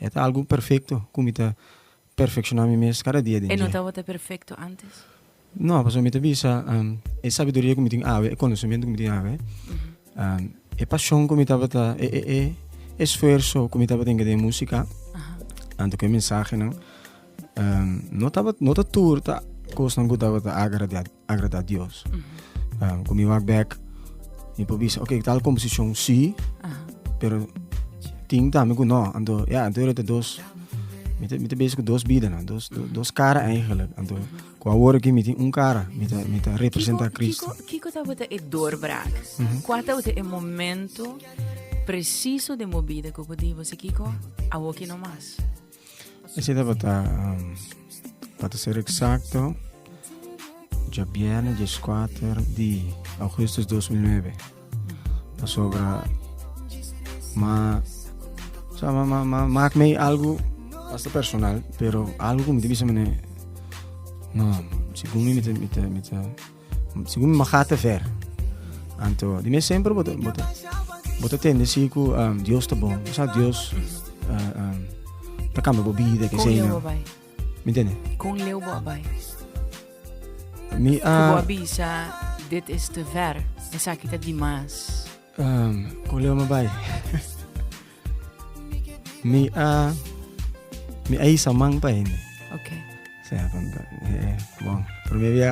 E ta algu perfekto ku mi ta perfekshoná mi mes kada dia den dje. E no tabata perfekto ántes? No, pasobra mi ta bisa e sabiduria ku mi tin awe, e konosementu ku mi tin awe, e pashon ku mi tabata e e e esfuerso ku mi tabata tenke den e músika, anto ku e mensahenan no tabata no ta tur ta kosnan ku tabata agradiá. agrada Dios. Mm -hmm. um, Kumi wak bek, mi por bisa, ok, tal composición sí, Aha. pero ting también que no. Ando, ja, ando era dos, mi te, mi te bezig dos biden, no? dos, do, dos cara eigenlijk. Ando, qua hoor que mi te un cara, mi te, mi te representa Cristo. Kiko, kiko ta wata e doorbraak? Mm -hmm. Qua ta wata e momento preciso de movida que podibo se kiko, awoki no mas. Ese tabata, um, pa te ser exacto, ya viernes 14 de agosto 2009. Pasobra, ma, o sea, ma, ma, ma, maak mee algo hasta personal, pero algo mi te bisa mene, no, según mi, mi te, mi te, mi te Segun Maga ta ver. Anto, di mes semper bo ta, bo ta, bo ta tende si ku um, Dios ta bon. Sa Dios uh, um, ta kambia bo bida, ke sei no. Mi tende? Kon leu bo abai? Mi a... Uh, bo bisa, dit is te ver. Esaki ta dimas. Um, kon leu ma bai? Mi a mi a isa man pa hende. Okay. Sa ya conta. Eh, bon, primer dia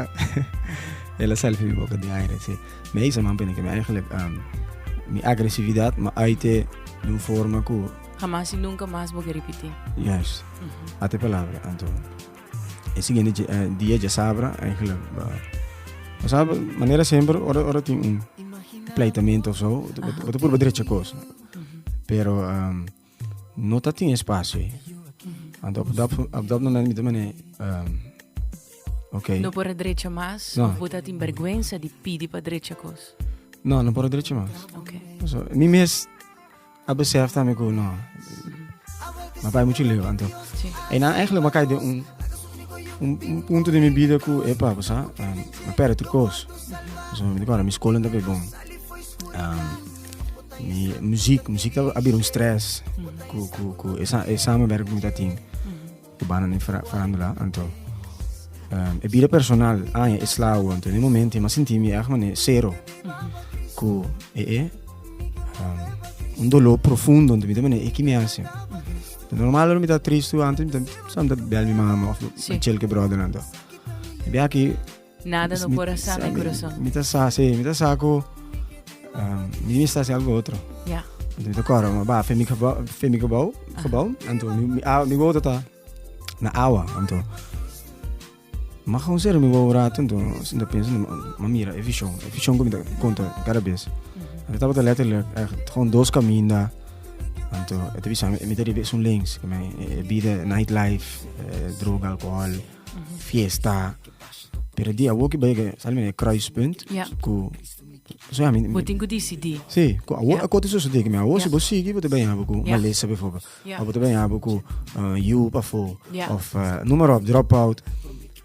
ela selfie mi boca de aire, sí. Mi a isa man pa hende que mi eigenlijk um, mi agresividad ma uite de un forma que Jamás y nunca más porque repetir. Juist. Mm -hmm. Ate palabra, Anto. E siguiente uh, dia ya sabra, eigenlijk. Uh, o sea, manera siempre, ora, ora tin un pleitamento of zo, o te probeer derecha cosa. Pero um, no ta tin espacio ahí. Want op dat, op dat moment mi te mene, um, okay. No por drecha mas, no. of ta tin vergüenza di pidi pa drecha kos? No, no por drecha mas. Okay. So, mi mes a besef también ko no. Ma pa mucho leo, anto. Sí. En dan eigenlijk ma kai de un un, un punto de mi vida ku epa, basa, um, ma perde kos. So, mi te kora, mi skolen ta be bon. Um, Mi muziek, muziek a bira un stress. Ku, ku, ku, e, e samenwerk mi ta tin. Ku bana ni farándula, anto. Um, e bira personal, ah, e slawo, anto. E momento, ma sinti mi echt mane zero. Ku, e, e, um, un dolor profundo, anto. Mi te mane, e ki mi hace? Normal, mi ta triste, anto, mi ta, sam ta bel mi mama, of, sí. mi chilke brother, anto. E bia ki, Nada no por a sa mi kurason. Mi ta sa, sí, mi ta sa ku mi debe sta haciendo algo otro. Ja. Anto mi ta kora, ma ba, fe mi gebou, fe mi gebou, gebou, anto mi, mi, a, mi wou ta na awa, anto. Ma gewoon ser mi wou rato, anto, si ta pensa, ma mira, e vision, e vision ku mi ta konta kada bes. Anto tabata letterlijk echt gewoon dos kaminda, anto, e ta bisa mi, mi ta riba esun links, ke mi, e bida, night life, droga, alkohol. fiesta. Pero di awoki bai ke sali mene kruispunt yeah. ku So ja, mi, mi, Botin ku disidi. Sí, ku awo yeah. akote so sodi kimi awo yeah. si bo sigi bo te ben yabo ku yeah. malesa bijvoorbeeld. Yeah. Of bo te ben yabo ku uh, you pa fo yeah. of uh, noem maar op drop out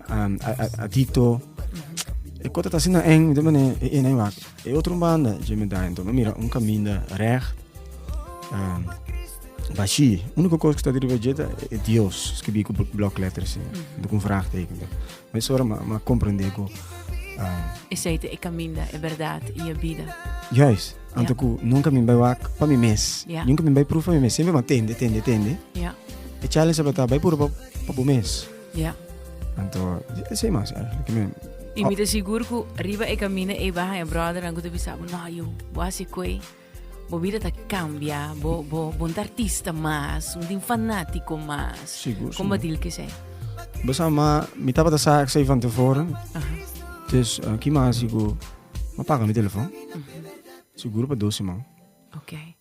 um, adicto. Mm -hmm. Ik kort het als in een, de meneer, in een waak. E otro banda dje mi daño, anto no mira un kaminda recht, bashí. Úniko kos ku ta riba dje ta e Dios skibi ku blòk lèter así, anto ku un vraagteken dor. Mes ora m'a komprendé ku. Esei ta e kaminda, e bèrdat i e bida. Juis, anto ku nunka mi bai wak pa mi mes, nunka mi bai pruf pa mi mes, siempre m'a tende, tende, tende. E challenge tabata bai puru pa bo mes. Ja. Anto, esei mas eigenlijk. Men, I oh. mi te sigur ku riba e kamina e baha e brothernan ku te bisa, no, yo, bo hasi kue, bo vida ta kambia, bo, bo, bo artista mas, un fanatiko mas. Sigur, Kom sigur. dil ke sei? Besa ma, mi tapa ta saak sei van tevoren. Aha. Dus, uh, ki ma hasi ku, ma paga mi telefon. Mm -hmm. Sigur pa dos semana. Oké. Okay.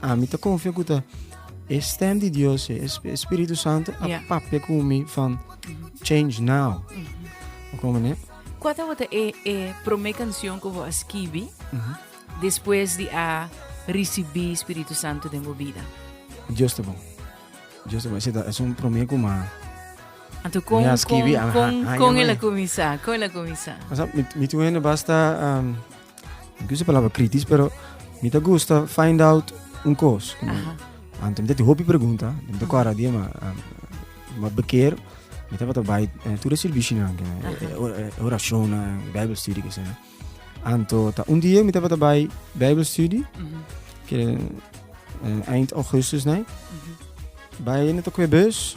a mi ta confia cu ta e stem di Dios, e Espíritu Santo, a yeah. papia cu mi van change now. Mm -hmm. Como ne? Quata wata e, e prome canción que vos escrevi mm -hmm. después de a recebi Espíritu Santo den vida? Dios te bon. Dios te bon. Ese es un prome como Anto con, con, con, con, con el a comenzar, con el a comenzar. O sea, mi, mi tuene basta... Um, No kier usa e palabra kritis pero mi ta gusta find out un kos. Aha. Anto mi ta tin hopi pregunta, mi ta kora di ma ma beker mi tabata bai eh, tur e sirbishi-nan, ke, e- e- e- e- e orashonnan, bijbelstudie ke esei. Anto ta un dia mi tabata bai bijbelstudie, Mhm, ke eh, eind augustus nei. mhm. Bai no ta koe bus,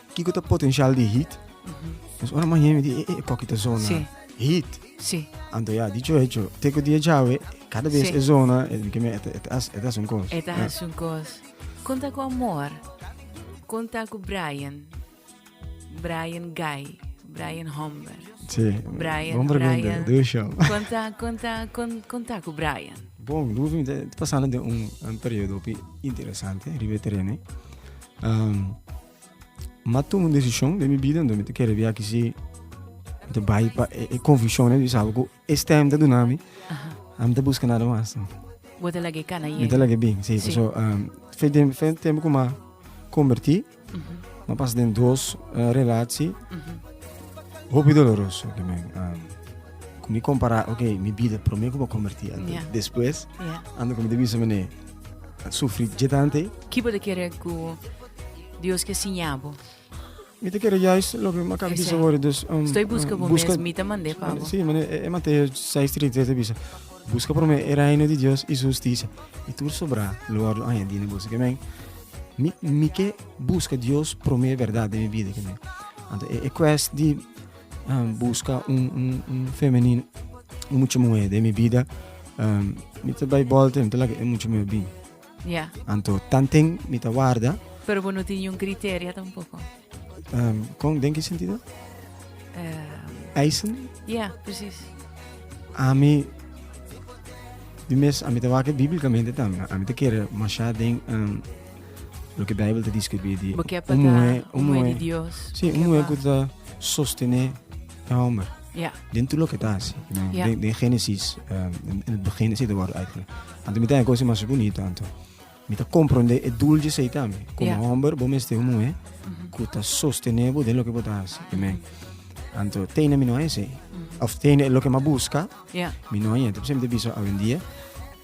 Kiko ta potencial di heat? Nos ora mañana mi di, eh, eh, poki ta zona. Sí. Heat. Sí. Anto ya, dicho hecho, teko dia jawe, cada vez Sí. e zona, e mi keme, et, et, as, et as un kos. E ta hasi un kos. Konta ku amor. Konta ku Brian. Brian Guy. Brian Homber. Sí. Brian, Bon pregunta, Brian. doe show. Konta, konta, kon, konta ku Brian. Bon, Rufi, te pasando de un, un periodo pi interesante, riba e terreno. Um, ma toma un decision de mi vida, mi te kere via kisi te bai pa e, e conviccion di salgo e stem te dunami. Am te busca nada mas. Bote lage cana y. Bote lage bien, sí. sí. So, um, fe tem, fe tem kuma converti, uh -huh. ma pas den dos uh, eh, relatie. Uh -huh. Hopi doloroso que me um, mi compara, ok, mi vida primeiro como converti, yeah. después yeah. ando como de bisa mené. sufri dje tante. Ki bo ta kere ku Dios ke siña bo? Mi ta kere yais loke Macabe bisa awor, dus, um, Stoi buska bo buska, mes, mi ta mand'é pa bo. Sí, mane e, e Mateo 6:33 ta bisa, buska promé e reino di Dios i su hustisia, i tur sobrá lo wòrdu añadí na boso. Kemen, mi, mi ke buska Dios promé bèrdat den mi bida, kemen. Anto e, e kwest di um busca un, un, un femenino, un mucha mujer de mi vida, um, mi te bai bolte, mi te laga e mucha mujer bin. Yeah. Anto, tanten mi te guarda. Pero bo no tiene un criterio tampoco. Um, con, den que sentido? Uh, Eisen? Yeah, precies. A mi, di mes, a mi te waken bíblicamente también. A mi te quiere machar den... Um, Loke Bijbel ta deskribí di un muhé, un muhé, sí, un muhé ku ta sostené e homber. Ja. Den tu lo ke ta asi. Ja. Den, den Genesis, um, in, in het begin is het woord eigenlijk. Anto mi ta kosi mas bonito anto. Mi ta comprende e doel di sei tambe. Como ja. homber, bo meste un muhe mhm. ku ta sostené bo den lo ke bo ta asi. Amen. Anto tene mi no ai sei. Mhm. Of tene lo ke ma busca. Ja. Mi no ai. Entonces mi te biso awendia.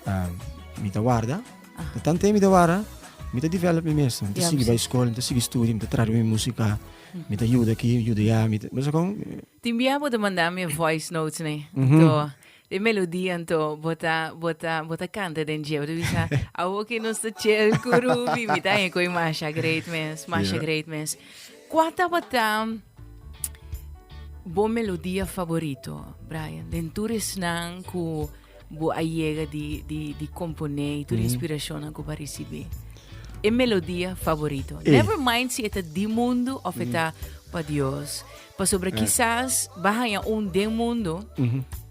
Um, mi ta guarda. Ta tanta e mi ta wara, mi ta develop mi mes, mi ta sigui bai skol, mi ta sigui studio, mi ta trata mi musika, mi ta yuda aki, yuda ya, mi ta, mester kon. Tin bia bo ta manda mi e voice notes ne, anto e melodia anto bo ta bo ta bo ta kanta den dje, bo ta bisa awo ke nos ta chel ku Rubi, mi ta haña ku e Masha great mes, Masha great mes. Kua tabata bo melodia favorito, Bryan, den tur esnan ku Bo a yega di di di kompon'é i tur inspirashonnan ku bo a risibí e melodia favorito. Ey. Never mind si e ta di mundu òf e ta pa Dios. Pasobra kisas bo a haña un den mundu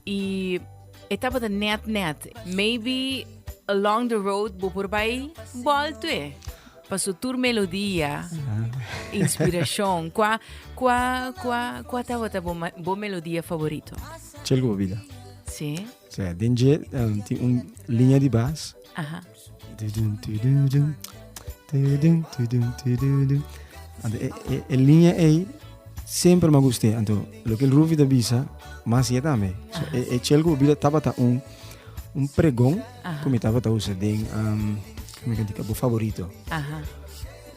i e tabata nèt nèt. Maybe along the road bo por bai bòltoe. Pa su tur melodia, inspirashon, kua kua kua kua tabata bo ma- bo melodia favorito? Chel ku bo bida. Sí. Sí, den dje em, tin un liña di bas. Aha. Tudun, tududun, tudun, tudun, tududun. Anto e, e, e liña ei semper m'a gust'é. Anto loke el Rufi ta bisa, m'a hasié tambe. So, e, e chel ku bo bida tabata un, un pregon Aha. ku mi tabata usa den, am, Mi kan tika bo favorito. Aha.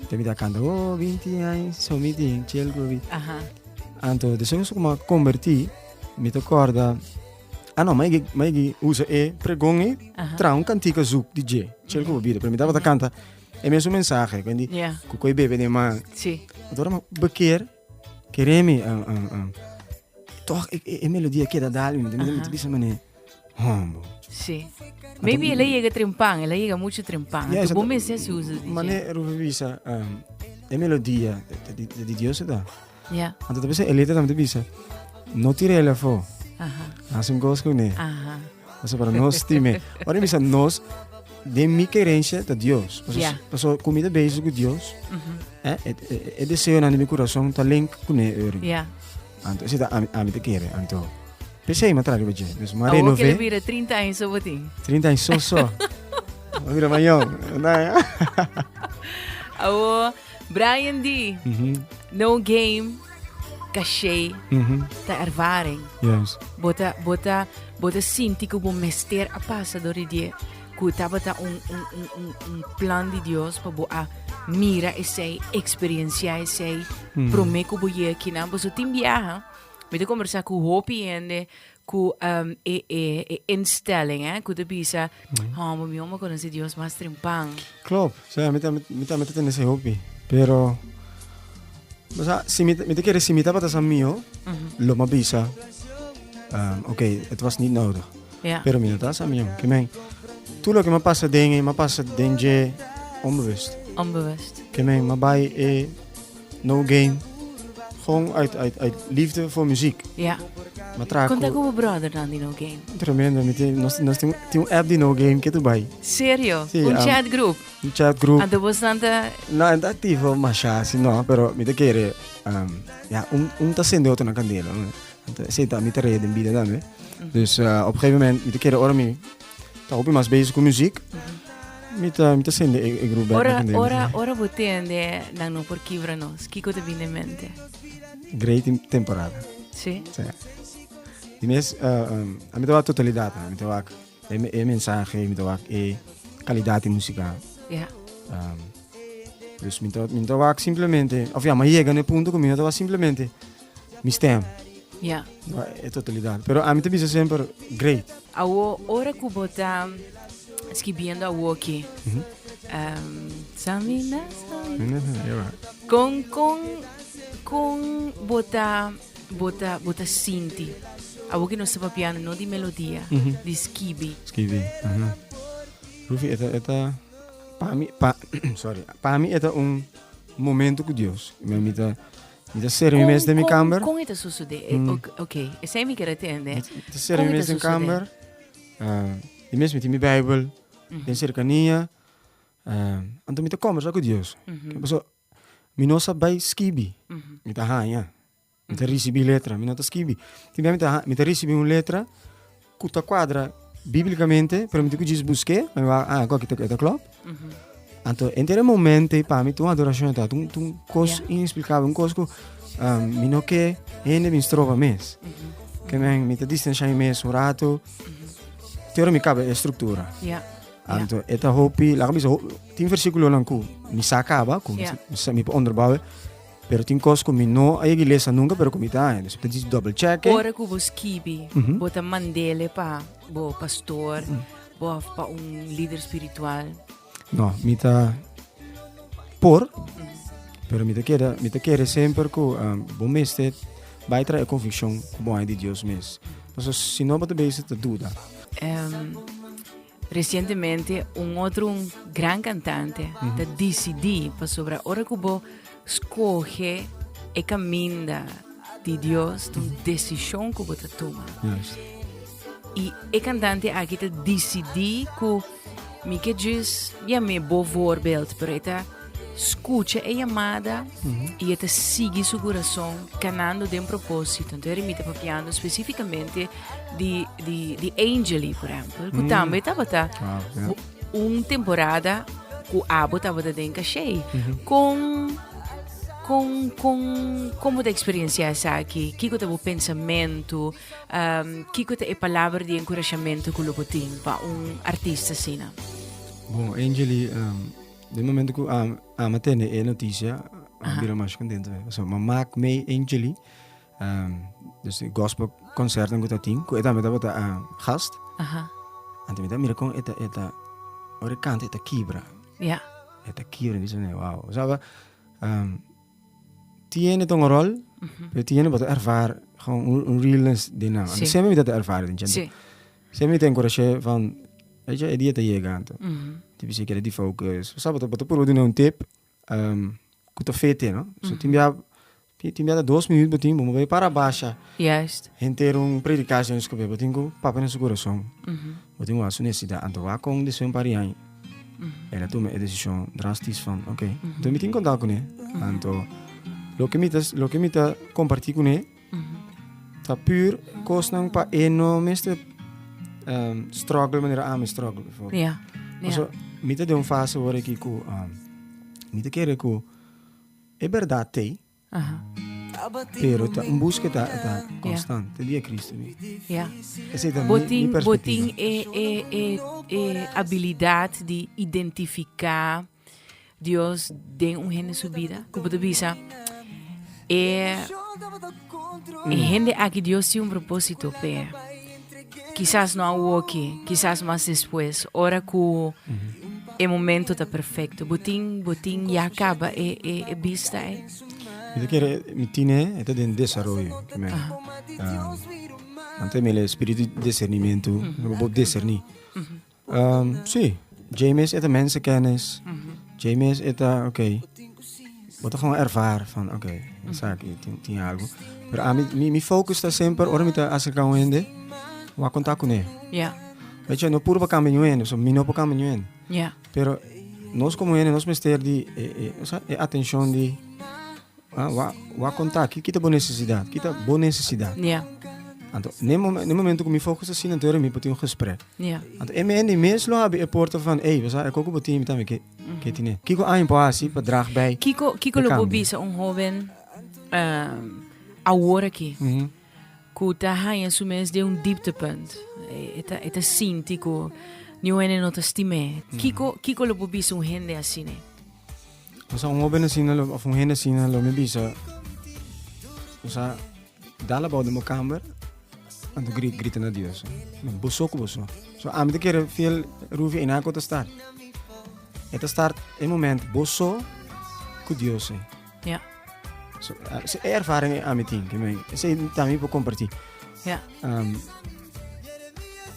Te mi ta canta, oh, 20 años, so mi tin, chel gobi. Aha. Anto, de so como converti, mi te corda, ah no, mai mai usa e pregon e tra un cantica zoek di je, chel gobi, pero mi tava ta canta, e mesmo mensaje, quindi, yeah. cu coi bebe de man. Sí. Adora ma bekeer. Kere mi toch e melodia a keda dal mi, mi ta bisa mane hombo. Si. Maybe el a yega trempan, el a yega mucho trempan. Yeah, Bo mester si usa DJ. Mane Rufe bisa um, e melodia di Dios da. Yeah. Anto ta bisa e letra tambe ta bisa no tirele fo. Aha. Hasin gos kune. Aha. Paso para nos time. Ora bisa nos de mi querencia ta Dios. Paso, yeah. paso comida bezig ku Dios. Uh mhm. -huh. eh, e, e, e deseo na mi corazón ta link ku ne ori. Yeah. Anto ese ta ami, ami te kere anto. Pese ma traga beje. Dus ma renove. Awo kele bire 30 años so boti. 30 años so so. Mira mayon. Na. Awo Brian D. No game, cachê, ta ervaring. Yes. Bo ta, bo ta, bo ta sinti cu bo mester a pasa door di die cu tabata un, un, un, un, un plan di Dios pa bo a mira esey, experiencia esey, prome cu bo ye akinan. Boso tin biaha, mi ta conversa cu hopi hende Cu e e e instelling eh cu ta bisa, ha bo mi homo conoci Dios mas trimpan. Klopt, o sea, mi ta mi ta mi ta tende esey hopi, pero bo sa si mi mi ta kere si mi tabata sa mio, lo mi a bisa okay, het was niet nodig, Ja. pero mi no ta sa mio. Ke men, tur loke mi a pasa den e mi a pasa den dje onbewust. Onbewust. Ke men mi a bai e No gain. Gewoon uit, uit, uit liefde voor muziek. Ja. Ma traku. Konta ku bo brother nan di No Gain. Tremendo. Mi tin, nos, nos tin, tin un app di No Gain ke tu bai. Serio? Si, un am, chat group? Un chat group. Anto bosnan ta... No, en ta aktivo masha si no, pero mi ta kere, um, ja, un, un ta sende otronan kandela. Esei ta mi ta rei den bida tambe. Dus, uh, op gegeven moment mi ta kere ora mi Ta hopi mas bezig ku muzik. Mi ta, mi ta sende e, e grupo Ora, ora, ora bo tende dan no por kibra nos. Kiko te bine mente? Great temporada. Sí. Sí. Di mes, uh, eh, um, eh, a mi te wak totalidad, a mi te wak e, e mensaje, mi te wak e calidad de música. Ja. Yeah. Um, dus mi te, mi te wak simplemente, of ja, ma llega no punto ku mi te wak simplemente mi stem. Ja. Yeah. E totalidad. Pero ami te bisa semper great. Awo ora ku bo ta skibiendo awoki. Mm -hmm. um, samina, samina. Yeah. Kon kon kon bo ta bo ta bo ta sinti. Awoki no sepa piano, no di melodia, mm -hmm. di skibi. Skibi. Uh -huh. Rufi, eta eta pa mi pa sorry, pa mi eta un momento ku Dios. Mi amita Mi ta serbi mi mes den mi kamber. Kon e ta sosodé? Ok, esei mi kere tende. Mi ta serbi mi mes den kamber. Di mes mi tin mi Beibel den serkania. Anto mi ta kombersá ku Dios. Kiko pasó? Mi no sa bai skibi. Mi ta haña. Mi ta risibí letra. Mi no ta skibi. Mi ta risibí un letra. Ku ta kuadra biblikamente, permití ku Jesus busk'é, mi wak, ah, akó kito e ta klòp. Anto, entre e momentoe, pa mi ta un adorashon, ta un, un kos Ya. ineksplikabel, un kos ku ah, mi no ke hende bin stroba mes. Ke men, mi ta distansha mi mes un ratu, te ora mi kaba e struktura. Ya. Anto, e ta hopi, laga mi bisa, ho- tin versíkulonan ku mi sa kaba, ku mi Ya. sa- mi sa- mi por onderbouwen, Pero tin kos ku mi no a yega ilesa nunka pero ku mi ta haña. Dor ta disi double check. Ora ku bo skibi bo ta mand'ele pa bo pastor of pa un lider spiritual? No, mi ta por pero mi ta keda mi ta kere semper ku bo mester bai traha e konvikshon ku bo haña di Dios mes. Pasobra si no bo ta bisa ta duda. Recientemente un otro un gran cantante mm -hmm. ta decidi pasobra ora cu bo scoge e caminda di Dios tu mm -hmm. decision cu bo ta tuma. Yes. Y e cantante aquí ta decidi cu mi que jis ya me bo voorbeeld pero eta Skucha e yamada i e ta sigui su kurason kanando den propósito. Nto e rimita papiando spesífikamente di, di, di Angeli, por ehempel, ku tambe tabata Ah, ya. u- un temporada ku abo tabata den Cachey. Kon, kon, kon, kon bo ta eksperiencia esaki? Kiko ta bo pensamentu? Um, kiko ta e palabra di enkurashamentu ku lo bo tin pa un artista asina? Bon, Angeli, ehm, Den momento ku am, ama tene e noticia, am bira mas contento. So, ma maak mee in Chili, um, dus di gospel concerten ku ta tin, ku e tambe tabata a gast. Aha. Ante mi ta mira kon eta, eta, ora kanta eta kibra. Ja. Eta kibra, mi sone, wow. Saba, um, tiene ta un rol, pero tiene bota erfar, gewoon un, un realness den nan. Sí. Ante semper mi ta ta erfar den chante. Sí. Sey mi ta enkurash'é van eisha e dia ta yega anto tin bisikera di focus bo sabe bo ta purba duna un tep ku ta fe te no so tin bia tin bia ta dos minut bo tin bo mo bai para basha henter un predika esnan skube bo tin ku papia na su kurason bo tin ku a su nesesida anto wak kon deseo un par di aña el a tuma e desishon drastis van oke mi tin konta kune anto loke mi ta loke mi ta komparti kune. Ta puur kosnan pa e no mester um, struggle manera ami struggle before. Ja. Ja. So, mi te de un fase hoor aquí cu um, mi te kere cu e verdad tei, Aha. pero ta un busca ta ta constant te dia Cristo mi. Ja. Ese ta mi, mi Botin, perspectiva. botin e, e, e, e habilidad di identifica Dios den un hende su bida ku bo ta bisa e hende aki Dios tin un propósito p'e kisas no awoki kisas mas despues ora ku e momento ta perfekto bo tin bo tin ya kaba e e e bista ei. Mi ta kere mi tine e ta den desaroyo kimen ante mele spiritu di disernimento bo por deserni Sí, dje mes e ta mensekennis, dje mes e ta, ok, bo ta gewoon ervara van, ok, esaki tin, tin algo. Pero a mi, mi, mi focus ta semper, ora mi ta acerca un hende, wa contact cune. Ja. Weet je, no puro pa cambia un hende, so mi no pa cambia un hende. Ja. Pero nos como hende, nos mester di, e, e, o sea, e atencion di, Wak konta ki ta bo nesesidat, ki ta bo nesesidat. Ja. Anto, ne momento ku mi fokus así na deur mi por tin un gesprek. Ja. Anto, e mendi mes lo abi e porta van, ey, we sa e koko bo tin mi tambe ke ke tine. Kiko aña por hasi pa drag bij. Kiko kiko lo bo bisa un hoven awor aki? cu ta haña su mes den un dieptepunt. E ta, e ta sinti cu niun hende no ta stim'e. Kiko, kiko lo por bisa un hende asina? O sea, un hoben asina, lo- of un hende asina lo mi bisa, o sea, dal abou den bo kamer anto gri- grita na Dios. Bo- Boso cu boso. So, ami ta kere fiel Rufia y nan cu ta start. E ta start e momento boso cu Dios. Ja. So, uh, se ervaring a mi tin, me, se también por compartir. Ja. Um,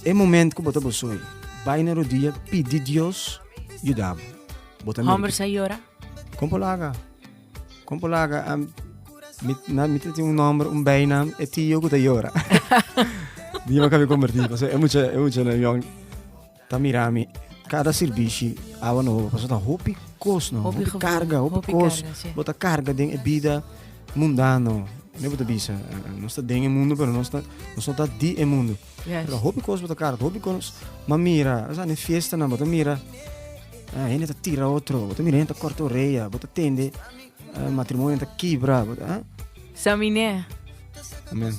e moment que bota bosoy, vai na rodilla, pidi Dios, yudabo. Bota Homber sa llora? Como laga? Como laga? Um, mit, na, mit tem um nome, um bem nome, é tio que tá llora. Diga que me converti, porque é muito, é muito, né, Ta mira mi cada sirbishi awa no hopi paso ta hopi cos no hopi carga hopi cos bo ta carga den e bida mundano me bo ta bisa nos ta den e mundo pero nos ta nos no ta di e mundo pero hopi cos bo ta carga hopi cos ma mira esa ne fiesta nan bo ta mira uh, hende ta tira otro bo ta mira hende ta corta oreya bo ta tende uh, matrimonio ta kibra bo ta uh. Samine. Amen.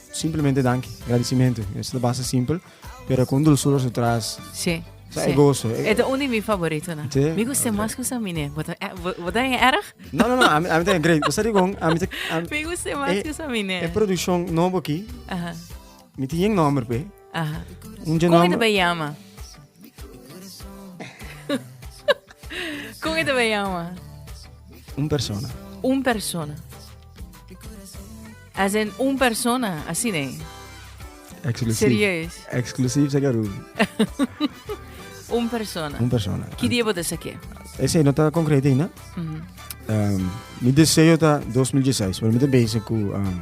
Simplemente danki, agradecimento. Eso ta basta simpel, pero cu un dulzura su tras. Sí. Sa e gozo. E ta uno di mi favorito, na. Sí? Mi gusta mas cu sa mine. Bota, eh, bo- bota en erg? No, no, no, a mi, a mi ta great. Cosa di con, a mi ta, a mi, Mi gusta mas Eh, cu sa mine. e producción nobo aquí, Aha. mi tiene nombre, pe. Aha. Un dje Kon e nomber. ta bay yama? Kon e ta bay yama? Un persona. Un persona. As in un persona, así ne. Exclusief. Serieus. Exclusief sa garu. Un persona. Un persona. Ki dia bo ta saqué? Ese no ta concreto ainda. Mhm. Um, mi deseo ta 2016, pero mi te bezig cu um,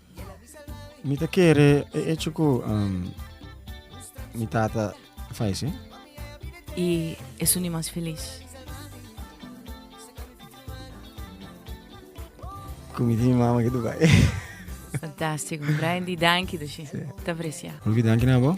Mi ta kere e echo ku um, mi tata falece. Y eso ni mas feliz. Ku mi tin mama ke Dubai. Fantástico. Brian Di, danki, Doshi. Te aprecia. Olvi, danki na bo.